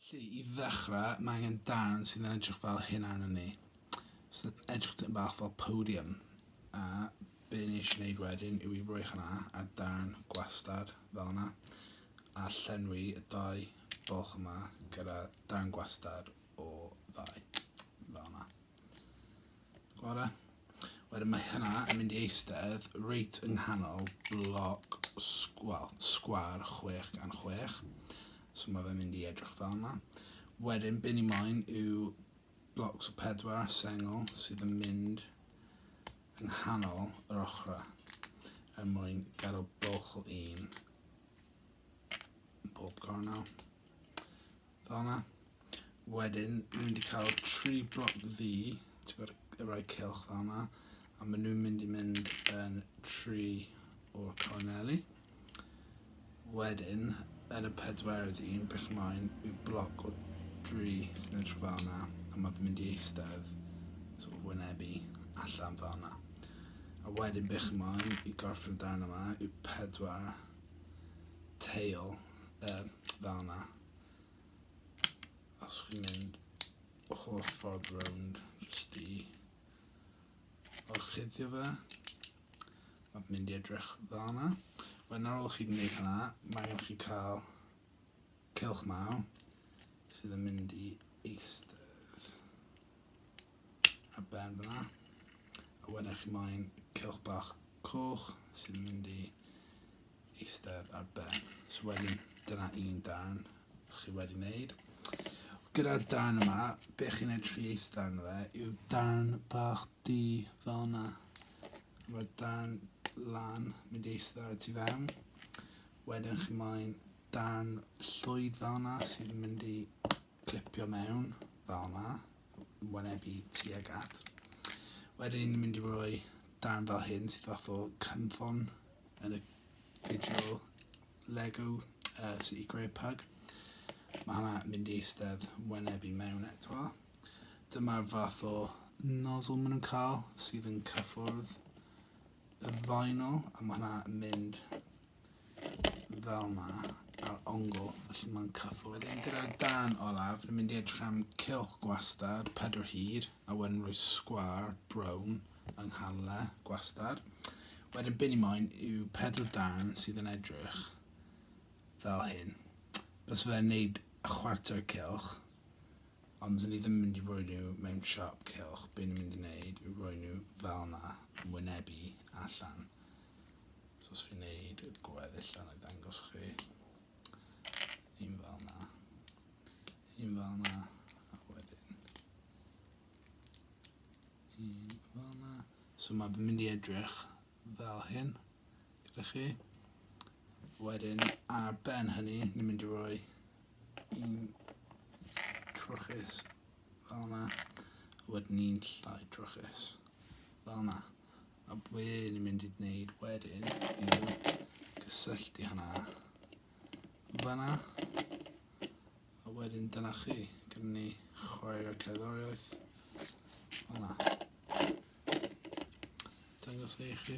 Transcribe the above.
Felly, i ddechrau, mae angen darn sydd yn edrych fel hyn arno ni. Sy'n edrych dyn bach fel podium. A be ni eisiau gwneud wedyn yw i roi hynna a darn gwastad fel yna. A llenwi y dau bolch yma gyda darn gwastad o ddau. Fel yna. Bore. Wedyn mae hynna yn mynd i eistedd reit yng nghanol bloc sg- wel, sgwâr chwech gan chwech. So mae fe'n mynd i edrych fel yma. Wedyn be ni moyn yw blocs o pedwar sengl sydd yn mynd yng nghanol yr ochrau er mwyn gadw bwlch o un yn bob cornel. Fel 'na. Wedyn, dwi mynd i cael tri bloc ddu, ti'n gwybod, y rai cylch fel 'na, a maen nhw'n mynd i mynd yn tri o'r corneli. Wedyn, yn y pedwerydd un, bych ymlaen, yw bloc o dri sy'n edrych fel 'na, a mae'n mynd i eistedd, sort of wynebu, allan fel 'na. A wedyn bych ymlaen i gorffen y darn yma yw pedwar teil uh, fel yna. Os chi'n mynd o holl ffordd rownd, jyst i orchuddio fe. Mae'n mynd i edrych dda yna. Wedyn ar ôl chi wneud hynna, mae gen chi cael cylch maw sydd yn mynd i eistedd. a ben fyna. A wedyn eich ymlaen cilch bach coch sy'n mynd i eistedd ar ben. So wedyn dyna un dan chi wedi wneud. Gyda'r dan yma, be chi'n edrych i eistedd arno fe yw dan bach di fel yna. Mae dan lan mynd i eistedd ar ti fewn. Wedyn chi ymlaen dan llwyd fel yna sy'n mynd i clipio mewn fel yna. wynebu tuag at. Wedyn ni'n mynd i roi darn fel hyn sydd fath o cynffon yn y fideo Lego uh, sydd i greu pug. Mae hwnna mynd i eistedd wynebu mewn eto. Dyma'r fath o nozzle maen nhw'n cael sydd yn cyffwrdd y faenol a mae hwnna mynd fel yma ar ongl, felly mae'n cyffwrdd. Wedyn gyda'r dan olaf, ni'n mynd i edrych am cilch gwastad, pedwar hyd, a wedyn rhoi sgwar brown yng nghanle gwastad. Wedyn byn i moyn yw pedwar dan sydd yn edrych fel hyn. Bys fe'n neud y chwarter cilch, ond dyn ni ddim mynd i roi nhw mewn siop cilch. Byn ni'n mynd i wneud yw roi nhw fel yna, yn wynebu allan. So os fi'n neud y gweddill yna i ddangos chi. Un fel yna. Un fel yna. A wedyn. Un fel yna. So mae fy mynd i edrych fel hyn. Gyda chi. Wedyn ar ben hynny, ni'n mynd i roi un trwchus fel yna. Wedyn ni'n llai trwchus fel yna. A be ni'n mynd i wneud wedyn yw gysylltu hynna fanna. A wedyn dyna chi, gyda ni chwarae'r cerddoriaeth. Fanna. Dangos e i chi.